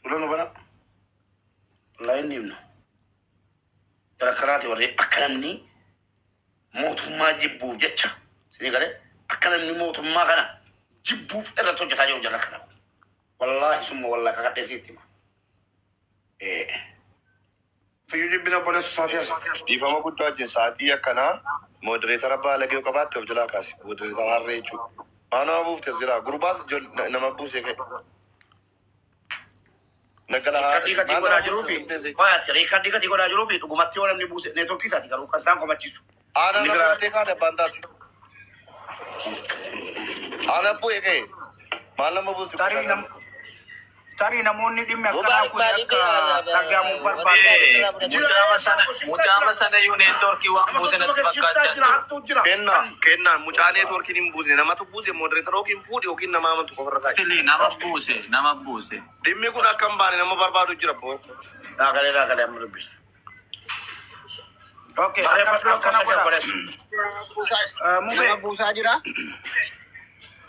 Dura nu bara laayinni himna. Gara karaati warri akka namni mootummaa jibbuuf jecha sinii galee akka namni mootummaa kana jibbuuf irratti hojjetaa jiru jala kana. Wallaahi summa wallaahi kakadhee sitti hima. Eh. Fayyu jibbin obboleessa isaatii hafe. Dhiifama guddaa wajjin sa'atii akkanaa moderator baalage yoo qabaatte of jalaa kaasi moderator harree jechuu maa nama buufte as jalaa gurbaas nama buusee ka'e naggala haa Riikardii katii godhaa jiruufi Qoy ati riikardii katii godhaa jiruufi dhugumatti yoo namni buuse networkii isaati garuu kan isaan komachiisu. Ana Inni biraa- namoota eegaa dabbaan taate. Ana abboo eegee maal nama buusti tarii nam- tarii namoonni dhimmi akkanaa Mubaarak kun maaliif akka beekaa? dhagahamu Eh, barbaadu. Eh, mucaama sana mucaama sana iyyuu neetworkii waan buuse natti fakkaachaa jira. Kenna kennaan mucaa neetworkiin hin buusne namatu buuse moodereetara yookiin fuudhi yookiin nama amantu qofarra taa'e. Tilii nama buuse nama buuse. Dhimmi kun akka hin baane nama barbaadu jira boo. Dhaagalee dhaagalee amma dubbi. Okay, akkana godha, akkana godha. Eh, Mube, Nama buusaa jira.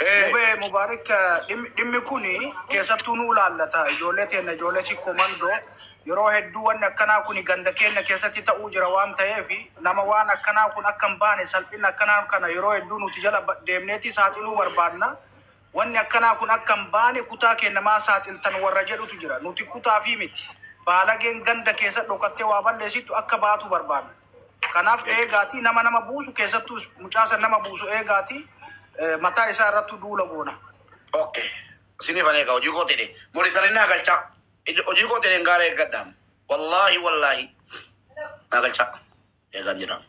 Eh, Mube Mubaarik eh, dhimmi- dhimmi kun keessattuu nu ilaallata. Ijoollee teenna ijoollee si komandoo yeroo hedduu wanni akkanaa kun ganda keenya keessatti ta'uu jira waan ta'eef nama waan akkanaa kun akka hin baane salphina akkanaa kana yeroo hedduu nuti jala ba- deemneeti saaxiluu barbaadna. Wanni akkanaa kun akka hin baane kutaa keenna maa saaxiltan warra jedhutu jira. Nuti kutaafii miti. Baalageen ganda keessa dhokattee waa balleessittu akka baatu barbaanna. Kanaaf eegaatii nama nama buusu keessattuu is- mucaa san nama buusu eegaatii eh, mataa isaa irrattu duula goona. Ok. Sini fane ka hojii koo tedhe. Monitorin naa galcha. Ijo- Hojii koo tedhe gaara eeggadha. Wallaahi wallaahi. Naa galcha. Eegaan jira.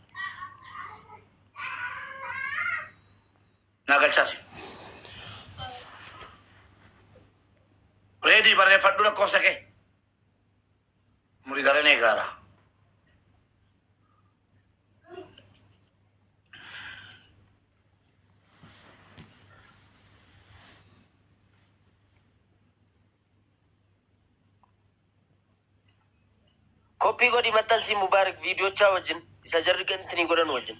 Naa galchaa si. Reedii barreeffadhu lakkoofsa kee. Muriidaren eegaara. Koppii godhi maxxansii Mubaarak viidiyochaa wajjin isa jarri gantini godhan wajjin.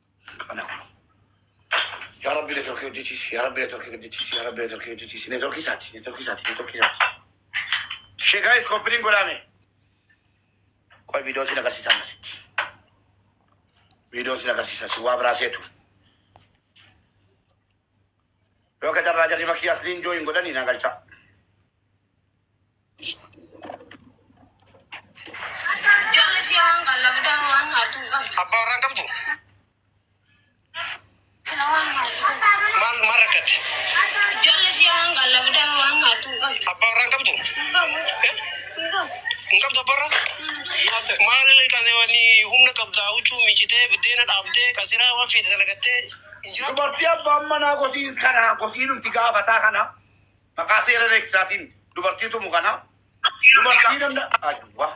Kana kun. Yaa Rabbi networkii hojjechiisi. Yaa Rabbi networkii hojjechiisi. Yaa Rabbi networkii hojjechiisi. Networkii isaati. Networkii isaati. Networkii isaati. Ishee gaa'is koppiliin godhaame. Qoy viidiyoon sin agarsiisaa akkasitti. Viidiyoon sin agarsiisaa si waa biraa seetu. Yoo ka carraa jarri makii asliin jooyin godhanii naa galchaa. Abbaa warraa hin qabdu? Maal maal rakkatti? Abbaa warraa hin qabdu? Eh? Hin qabdu abbaa warraa? Maal kan wanni humna qabda huccuu miicitee buddeena dhaabdee kasiraa waan feete dalagattee hin jiraattu? Dubartii abbaan manaa kosiin kana kosiin nuti gaafataa kana Maqaa seera reeksaatiin dubartii tumu kana dubartii danda Aywa.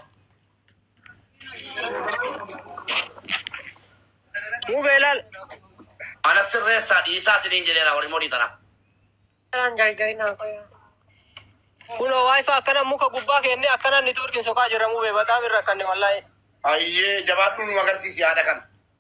Muubee ilaal. Ana sirreessaa dhiisaa isiniin jedheera warri modii tanaa. Karaan gargari naa qoyaa. Kunoo wifi akkana muka gubbaa keenne akkana networkiin soqaa jirra muubee bataam irra akkanne wallahi. Ayyee jabaadhuu nu agarsiisi yaada kana.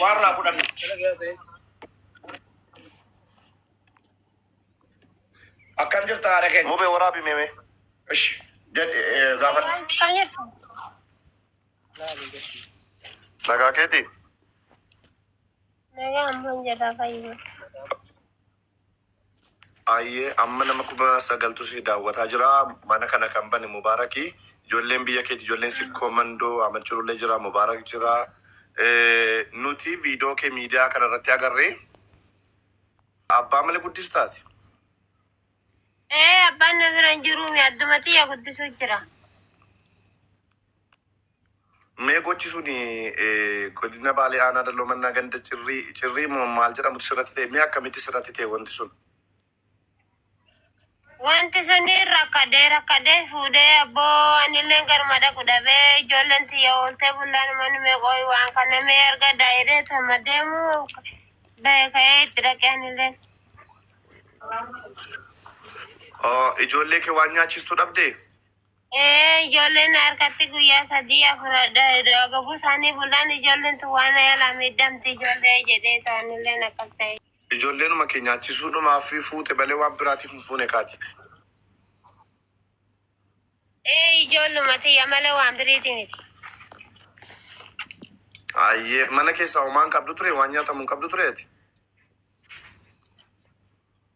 waan irraa fudhannu. Akkam jirta haadha keenya? Mubee waraabi meemee. Ishi jedhe eh, gaafadhu. Nagaa keeti. Nagaa ammoo jedhaa fayyuma. Ayyee amma nama kuma sagaltu si daawwataa jira mana kana kan bane mubaaraki ijoolleen biyya keeti ijoolleen sikkoo mandoo amachurullee jira mubaarak jira nuti viidoo kee miidiyaa kana irratti agarree abbaa mala guddistaati Ee abbaan na bira hin jiruumi addumatti yaa guddisuu jira. Mee gochi suni godina Baalee Aanaa Dalloo Mannaa ganda cirrii cirrii moo maal jedhamutti sirratti ta'e mee akkamitti sirratti ta'e wanti sun? Wanti suni rakkadee rakkadee fuudhee abboo anilleen garuma dhaqu dhabee ijoolleen tiyya ooltee bullaan manni meeqooyi waan kana mee arga daa'iree tama deemu ba'e ka'ee itti dhaqe anilleen. Ijoollee kee waan nyaachistu dhabdee? Ee, ijoolleen harkatti guyyaa sadii afur dogoguu isaanii bulaan ijoolleen tun waan yaalaa miidhamti ijoollee jedhee isaanilleen akkas ta'e. Ijoolleenuma kee nyaachisuudhumaaf fuute malee waan biraatiif hin fuune kaati. Ee, ijoolluma tiyya malee waan biriiti miti. Ayyee mana keessaa homaa hin qabdu ture waan nyaatamu hin qabdu ture ati.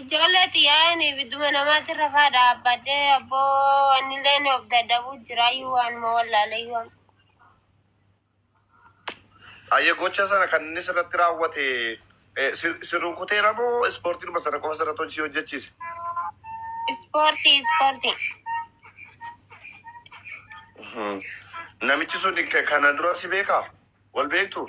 Ijoollee xiyyaa'een ibidduma namaatti rafaa dhaabbadhee abboo annileen of dadhabuu jiraayyuu waanuma wallaaleyyuu. Ayyee gocha sana kan inni sirratti raawwate eh, si si rukuteera moo ispoortiidhuma sana qofa sirratti hojii hojjechiise? Ispoortii ispoortii. Mhm. Namichi sun ke- kana dura si beekaa? Wal beektu?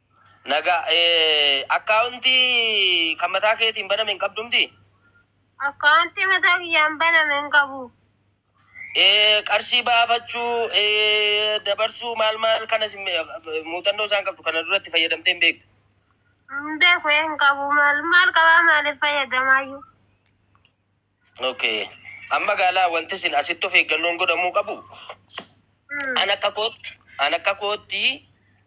Nagaa. Account kan mataa keetiin baname hin qabdu miti? Account mataa kiyyaan baname hin qabu. Qarshii baafachuu, dabarsuu maal maal kanas muuxannoo isaan qabdu kana dura itti fayyadamtee hin beektu? Hin beeku hin qabu. Maal maal qabaa maaliif fayyadamaayyuu? Ok. Amma gaalaa wanti isin asitti of eeggannoon godhamuu qabu an akka kootti an akka kootti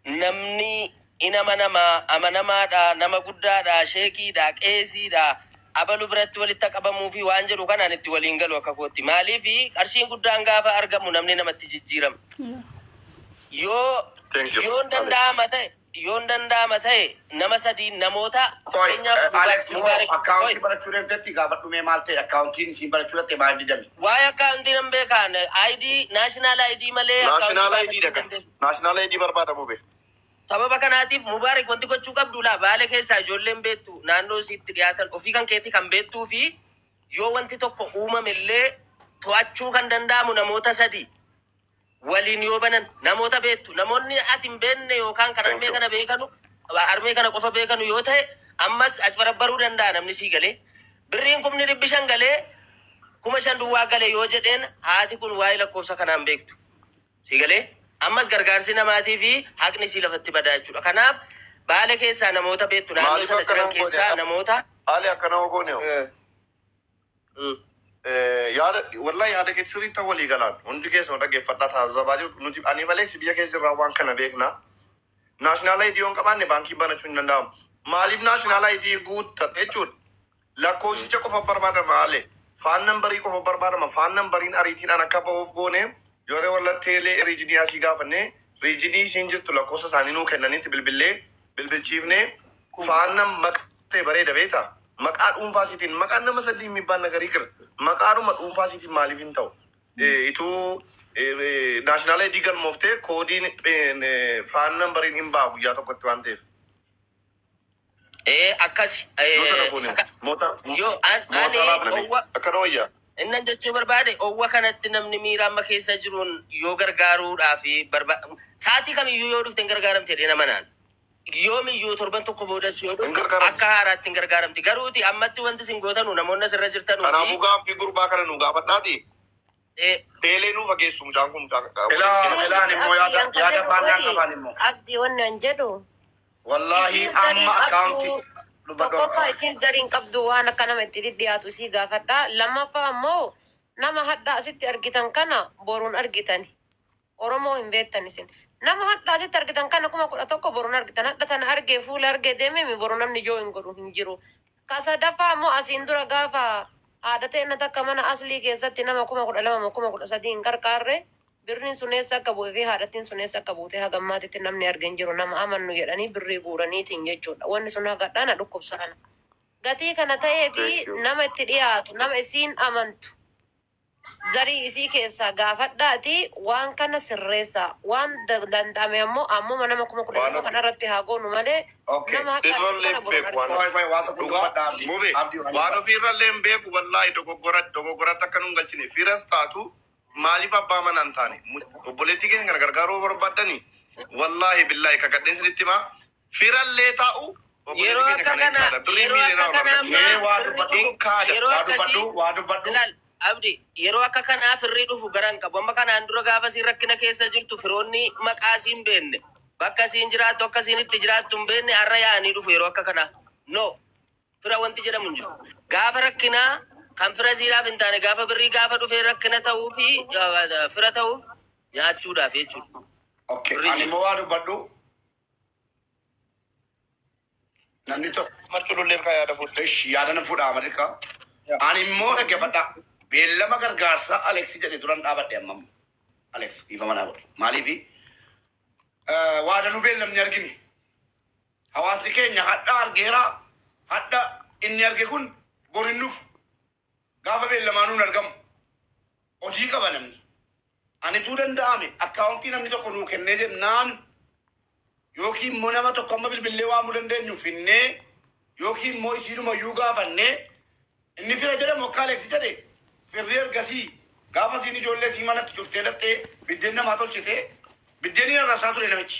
namni in amanamaa amanamaadha nama guddaadha sheekiidha qeesiidha abalu biratti walitti qabamuu fi waan jedhu kanaan itti waliin galu akka kootti maaliif qarshiin guddaan gaafa argamu namni namatti jijjiirama yoo Thank you. yoon danda'ama ta'e Yoon danda'ama ta'e nama sadiin namoota Qoy fakkeenyaaf Muba- Alex hoo Mubaarik akkaawuntii Qoy. barachuu deemtetti gaafadhu mee maal ta'e akkaawuntiin isiin barachuu dhatte maal didame? Waa'ee akkaawuntii nan beekaan ID national ID malee akkaawuntii Naashinaal baafachuu ayidiidha hin kan. dandeessu. Naashinaal ayidii barbaada mube. Sababa kanaatiif Mubaarik wanti gochuu qabdu laa baale keessaa ijoolleen beektu naannoo isiitti dhiyaatan ofii kan keetii kan beektuu fi yoo wanti tokko uumame illee to'achuu kan danda'amu namoota sadi waliin yoo banan namoota beektu namoonni ati hin beekne yookaan kan armee kana beekanu armee kana qofa beekanu yoo ta'e ammas acbarabbaruu danda'a namni sii galee birriin kumni dhibbi shan galee kuma shan duwwaa gale yoo jedheen haati kun waa'ee lakkoofsa kanaan beektu sii galee ammas gargaarsi namaatii fi haqni sii lafatti badaa jechuudha kanaaf baale keessaa namoota beektu naannoo Maaliif sana jiran akkanaan godhe? keessaa namoota Haali akkana ogoon yoo. eh, Yaada wallahi yaada keetti sirriitti walii galaan hundi keessuma dhaggeeffadhaa taasisabaa jiru nuti ani maleeksi biyya keessa jirraa waan kana beekna. Naashinaal ayidii yoo hin qabaanne baankiin banachuu hin danda'amu. Maaliif naashinaal ayidii guuttatte jechuudha. Lakkoofsicha qofa barbaadama maale. Faan nambarii qofa barbaadama. Faan nambariin ariitiidhaan akka bahuuf goone yeroo walla teelee riijinii asii gaafanne riijinii isiin jirtu lakkoofsa isaanii nuu kennanitti bilbillee bilbilchiifne faan nam maqaa Baay'ee bareeda beektaa? Maqaa dhuunfaa siitiin maqaan nama saddii hin mibbaan nagarii kir maqaadhuma dhuunfaa siitiin maaliif hin ta'u? Eh, Ituu naashinaala idii galmooftee koodiin eh, faan nambariin hin ba'a guyyaa tokkotti waan ta'eef. Ee akkasi. Yoo sana goone Saka- moota Yoo an- moota ani raabnanii owwa- akkana wayyaa. Innan jechuu barbaade owwa kanatti namni miira amma keessa jiruun yoo gargaaruudhaa fi barba sa'aatii kamiyyuu yoo dhufte hin gargaaramte dheena manaan. Yoomiyyuu torban tokko boodas yoo Hin dhufte gargaaramtu. akka haaraatti hin gargaaramti. Garuuti ammatti wanti isin gootanu namoonni asirra jirtanuu Kanaafuu fi gaaffii gurbaa kana nu gaafadhaati. eh, Beelee nu fageessu mucaan kun mucaan kana. Ilaa ilaan immoo yaada yaada faallaa qabaan immoo. Abdi wannan jedhu. Wallaahi Isiin amma darii akkaawuntii qabdu dubbadhu. tokkoffaa isiin dariin qabdu waan akka nama itti dhidhiyaatu isii gaafadha. Lammaffaa ammoo nama hadhaa asitti argitan kana boruun argitani. Oromoo hin beektan isin. Nama hadha asitti argitan kana kuma kudha tokko boru hin argitan. Hadha tana argee fuula argee deememi boru namni join godhu hin jiru. Ka sadaffaa immoo asiin dura gaafa haadha teenna takka mana aslii keessatti nama kuma kudha lama moo kuma kudha sadii hin qarqaarre birriin sun eessa akka bu'e fi haadhattiin sun eessa akka buute haga ammaatitti namni arge hin jiru nama amannu jedhanii birrii guuraniitiin jechuudha. Wanni sun haga hadhaa na dhukkubsa ana. Gatii kana ta'ee fi Thank you. nama itti dhiyaatu nama isiin amantu Zarii isii keessaa gaafadhaatii waan kana sirreessaa. Waan danda'ame ammoo ammuma nama 12,000 kana irratti haa goonu malee nama haqa argatu kana bor hin argatu. Qoy qoy waan tokko hin dubbadha abdi Mube abdi waan waan ofii irrallee hin beeku wallaahi dogoggora dogoggoratti akka nun galchine firas taatu maaliif abbaa manaa hin taane Mu- obboleettii keenya kana gargaaruu barbaadani wallaahi billaahi kakadheen sinitti himaa Firallee ta'u Yeroo akka kanaa yeroo akka kanaa ammaa yeroo akkasii ilaal abdi yeroo akka kanaa firrii dhufu gara hin qabu amma kanaan dura gaafa siin rakkina keessa jirtu firoonni maqaa siin beenne bakka siin jiraattu akka siin itti jiraattu hin beenne har'a yaa'anii dhufu yeroo akka kanaa no fira wanti jedhamu hin jiru gaafa rakkinaa kan fira siidhaaf hin taane gaafa birrii gaafa dhufee rakkina ta'uu fi fira ta'uuf nyaachuudhaaf jechuudha. Okay, ani immoo waa dubbadhu. Namni tokko martuu lollee bikaa yaada fuudha. Ishi yaada nan fuudha Ameerikaa. Ani immoo dhaggeeffadhaa. Beellama gargaarsaa Aleeksi jedhe duran dhaabadhe amma amma. Aleeksi dhiifama naa godhi. Maaliifi? Waadanuu beellamni argine. Hawaasni keenya hadha argeera. Hadha inni arge kun bor hin dhufu. Gaafa beellamaanuu hin argamu. Hojii qaba namni. Anituu danda'ame akkaawuntii namni tokko nuu kennee jennaan yookiin immoo nama tokko amma bilbillee waamuu dandeenyu finnee yookiin immoo isiidhuma iyyuu gaafannee inni fira jedhamu akka Aleeksi jedhe firri ergasii gaafa siin ijoollee sii manatti cuftee dhattee biddeen namaa tolchitee biddeen hin arrabsaa ture namichi.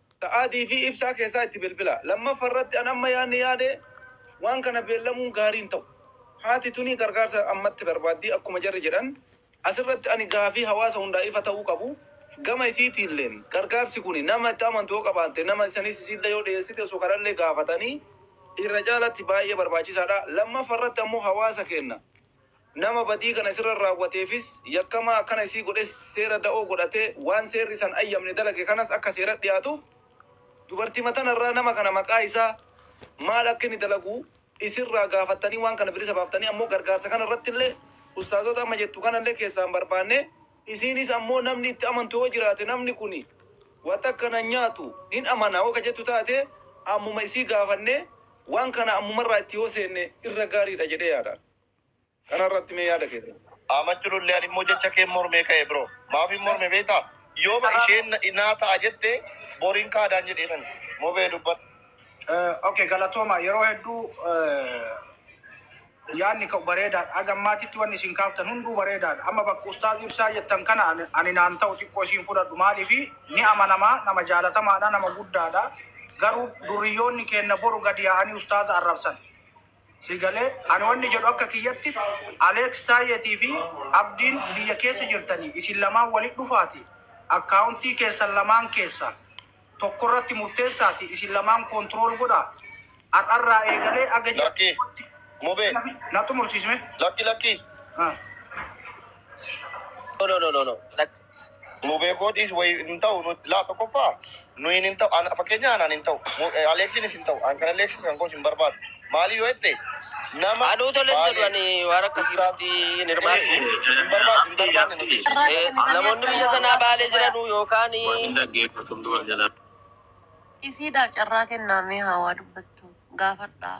Sa'aatii fi ibsaa keessaa itti bilbilaa. Lammaffa irratti an amma yaadni yaade waan kana beellamuun gaarii hin ta'u. Haati tuni gargaarsa ammatti barbaaddii akkuma jarri jedhan as irratti ani gaafii hawaasa hundaa ifa ta'uu qabu gama isiitiilleen gargaarsi kuni nama itti amantu yoo qabaatte nama isaniis isiillee yoo dhiyeessite osoo kanallee gaafatanii irra caalatti baay'ee barbaachisaadha. Lammaffa irratti ammoo hawaasa keenna Nama badii kana sirra raawwateefis yakkamaa akkana isii godhes seera da'oo godhatee waan seerri isan ayyamne dalage kanas akka seerat dhiyaatuuf dubartima tana irraa nama kana maqaa isaa maal akka inni dalagu isirraa gaafattanii waan kana bilisa baaftanii ammoo gargaarsa kana irratti illee ustaazoota amma jettu kana illee keessaa hin barbaanne isiinis ammoo namni itti amantu yoo jiraate namni kuni waa takka nan nyaatu nin amana yoo ka jettu taate ammuma isii gaafannee waan kana ammumarraa itti yoo seenne irra gaariidha jedhee yaadaan. Kana irratti mee yaada keessan. Aamachu lollee ani immoo jecha keen mormee ka'e bro. Maafin morme beektaa? Yooma isheen na- naa ta'a jette boriin kaadaan jedheetan. Mubee dubbadhu. Eh, okay galatooma yeroo hedduu eh, yaadni ka'u bareedaadha aga ammaatitti wanni isin kaaftan hunduu bareedaadha amma bakka ustaaz ibsaa jettan kana ani ani naan ta'u xiqqoo isiin fudhadhu maaliifi ni amanamaa nama jaalatamaadha nama guddaadha garuu durriyyoonni keenna boru gadi yaa'anii ustaaza arrabsan Si galee? Ani wanni jedhu akka kiyyatti Aleeks Taayyeetii fi Abdiin biyya keessa jirtanii isin lamaan walitti dhufaati akkaawuntii keessan lamaan keessa tokko irratti murteessaati isin lamaan koontirool godha har'arraa eegalee aga ji'a Lakki. tokkotti Mubee. na xumursiisme. Lakki lakki. Ah. No no no no no. Lakki. Nuu beekoo dhiis wayi hin ta'u nu laa tokkoffaa nu hin hin ta'u an fakkeenya anaan hin ta'u Mu- eh, Aleeksiinis hin ta'u an kan Aleeksiis kan koos hin barbaadu maalii yoo jette nama Anuu tole hin jedhu ani waan akkasii irratti hin hirmaadhu. hin barbaadu hin barbaadne nu dhiisi. Eh, Namoonni biyya sanaa baalee jiranuu yookaan Isiidhaaf carraa kennaa mee haa waa dubbattu gaafadhaa.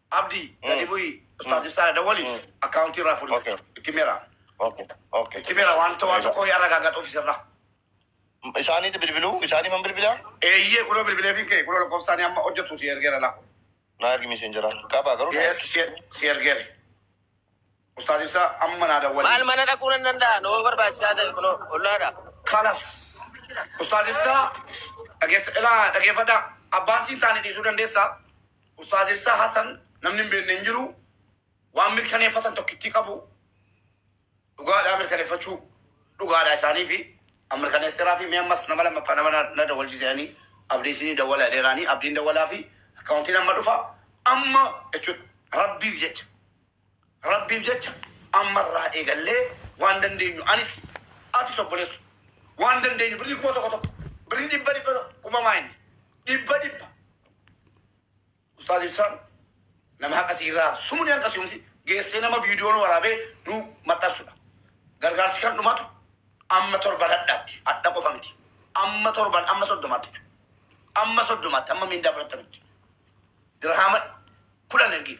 Abdi gadi bu'i ustaaz ibsaadha dawwali akkaawuntii irraa fuudhi Okay. itti mera Okay. Okay. itti mera wanta waan tokko yaa ragaagatuuf isirra Isaaniitti bilbiluu? Isaanii man bilbilaa? eeyyee kunoo bilbilee fi kee kunoo lakkoofsaanii amma hojjetu si ergeera laa Naa ergi miiseenjera. Qabaa garuu naa ergi. si ergeere Ustaaz ibsaa amma naa dawwali. Maal mana dhaquu nan danda'a? Noo barbaachisaa ta'e kunoo ollaadha. Kalas. Ustaaz ibsaa dhageessa ilaa dhageeffadha. Abbaan siin taane dhiisuu dandeessa. Ustaaz ibsaa Hasan namni hin beekne hin jiru. Waan mirkaneeffatan tokkittii qabu. Dhugaadhaa mirkaneeffachuu dhugaadhaa isaanii fi an mirkaneesseeraa fi mee ammas nama lammaffaa nama na- na dawwalchiisanii abdii isinii dawwala jedheeraanii abdiin dawwalaa fi akkaawuntiin amma dhufa amma jechuudha rabbiif jecha. Rabbiif jecha amma irraa eegallee waan dandeenyu anis atis obboleessu waan dandeenyu birrii kuma tokko tokko birrii dhibba dhibba tokko kuma maayinni dhibba dhibba ustaaz ibsaan nama haqa siirraa sumni hanqa siumti geessee nama viidiyoon waraabee nu maxxansudha gargaarsi kan dhumatu amma torban hadhaatti hadha qofa miti amma torban amma soddomaatti jechuudha. amma soddomaatti amma miindaa fudhattanitti dirhaama kudhan ergiif.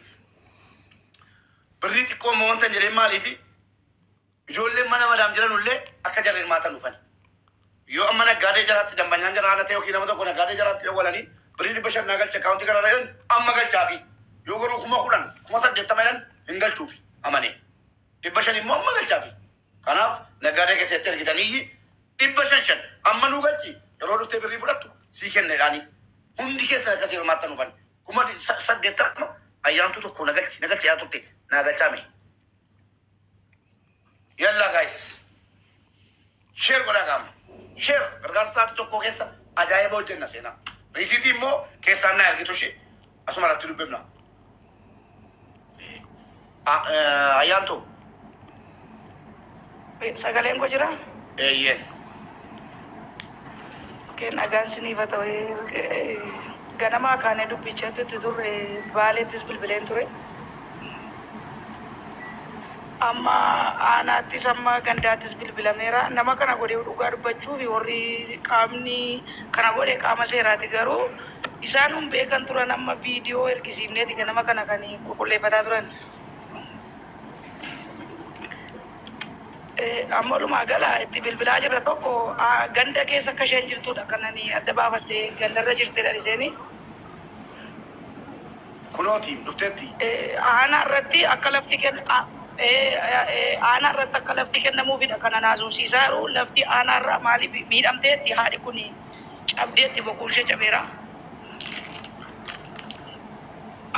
Birrii xiqqoo immoo wanta hin jedheen maaliifi ijoolleen mana madaam jiran illee akka jarri hirmaatan dhufan. Yoo amma naggaadee jaraatti dambanyaan jara haala ta'e yookiin nama tokko naggaadee jaraatti dawwalanii birrii dhibba shan naa galcha akkaawuntii kana jedhan amma galchaafi. Yoo garuu kuma kudhan kuma saddeettama jedhan hin galchuufi amanee. Dhibba shan immoo amma galchaafi. Kanaaf naggaadee keessatti ergitanii dhibba shan shan amma nuu galchi yeroo dhuftee birrii fudhattu sii kenna jedhaanii. Hundi keessan akkasii hirmaattan dhufan. kuma di- sa- saddeettama ayyaantuu tokko na galchi na galchi yaa turte naa galchaa mee yallaa gaayis sheer godhaa gaama sheer gargaarsa sa'aatii tokko keessa ajaa'iba hojjenna seenaa riisiitii immoo keessaan na ergitu ishee asuma irratti dubbifna A- eh, Ayyaantu. Sagaleen koo jira? Eeyyee. Okee, nagaan siniif haa ta'u. Eh, Ganamaa kaanee dubbichatti itti turre baaleettis bilbileen ture. Amma aanaattis amma gandaattis bilbilameera. Nama kana godhee dhugaa dubbachuuf warri qaamni kana godhe qaama seeraati garuu Isaan nun beekan turan amma viidiyoo ergisiifneeti ganama kana kan qulqulleeffataa turan. Eh, Amma walumaa gala itti bilbilaa jirra tokko ah, ganda keessa akka isheen jirtudha kan ani adda baafadhee gandarra jirtedha isheen. Kunooti dhufteetti. Eh, Aanaa irratti akka lafti kenn a- eh, eh, aanaa irratti akka lafti kennamuufidha kan anaasofsiisaa jiru lafti aanaa irraa maaliif miidhamteetti haadhi kuni. cabdeetti bokuun ishee cabeera.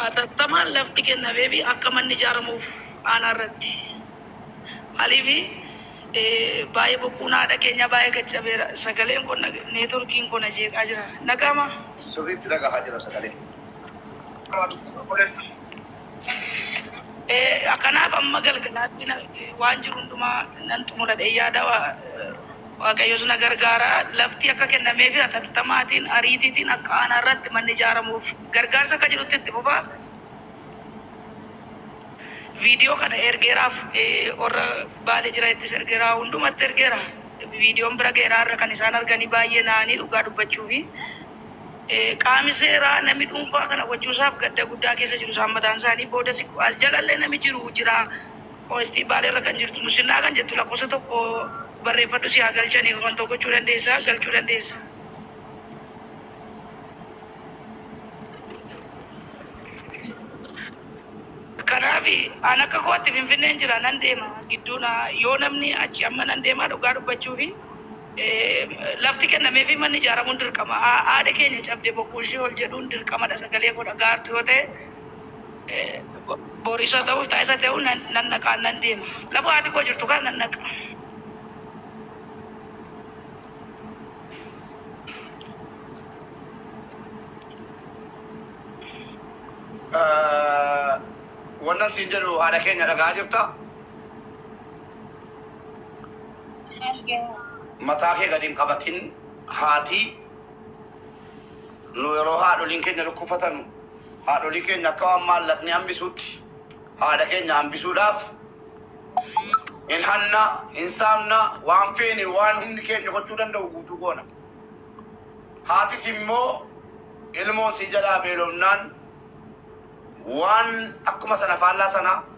Atattamaan lafti kennamee fi akka manni ijaaramuuf aanaa irratti maalii fi baay'ee bokuun haadha keenyaa baay'ee gad cabeera. Sagaleen kun neetworkiin kun ajeeqaa jira. Nagaamaa? Sirriitti dhagahaa jira sagalee. Eh, Kanaaf amma galgalaatti na- waan jiru hundumaa nan xumura jedhee yaada Waa- eh, Waaqayyos na gargaara. Lafti akka kennamee fi atattamaatiin ariitiitiin akka aanaa irratti manni ijaaramuuf gargaarsa akka jirutti itti fufa. Viidiyoo kana ergeeraaf eh, warra baale jira ittis ergeera hundumatti ergeera. Viidiyoon bira ga'eera irra kan isaan arganii baay'ee na'anii dhugaa dubbachuufi. Qaami seeraa nami dhuunfaa kana gochuusaaf gadda guddaa keessa jiru isaan mataan isaanii. Boodasi as jalallee nami jiru jira. Qoyistii baaleerra kan jirtu musinnaa kan jettu lakkoofsa tokko barreeffadhu si haa galchani wantoo gochuu dandeessa galchuu dandeessa. Kanaaf an akka kootti finfinneen jira nan deema gidduuna yoo namni achi amma nan deemaa dhugaa dubbachuufi Lafti kennameefii manni ijaaramuun dirqama. Haadha keenya cabde boquu ishee ol jedhuun dirqamadha sagalee koo dhaga'artu yoo ta'e bor isa ta'uuf ta'a isa ta'uu nan nan naqaan nan deema. Lafa haati koo jirtu kana nan naqa. Wannan siin jedhu haadha keenya dhagaa jirta. Mataa kee gad hin qabatin haati nu yeroo haadholiin keenya dhukkubsatan haadholii keenya akka waan maallaqni hambisuutti haadha keenya hambisuudhaaf hin hanna hin saamna waan feene waan humni keenya gochuu danda'u guutuu goona. Haatis immoo ilmoo sii jalaa beelofnaan waan akkuma sana faallaa sana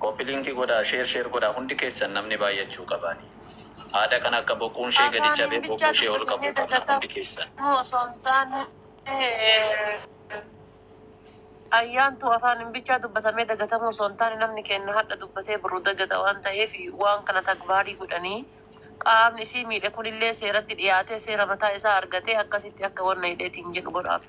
Copy link godhaa share share godhaa hundi keessan namni baay'achuu qabaani haadha kana akka boquun ishee gadi Afaaniin cabee boquu bichaa ishee ol qabuu dubbatamee qabna hundi keessan. dagatamuu osoo hin taane Ayyaantuu afaaniin bichaa dubbatamee dagatamuu osoo hin taane namni keenya har'a dubbatee boru dagata waan ta'eef waan kana tagbaarii godhanii qaamni isii miidhe kunillee seeratti dhiyaatee seera mataa isaa argatee akkasitti akka wanna hidheetiin jedhu godhaaf.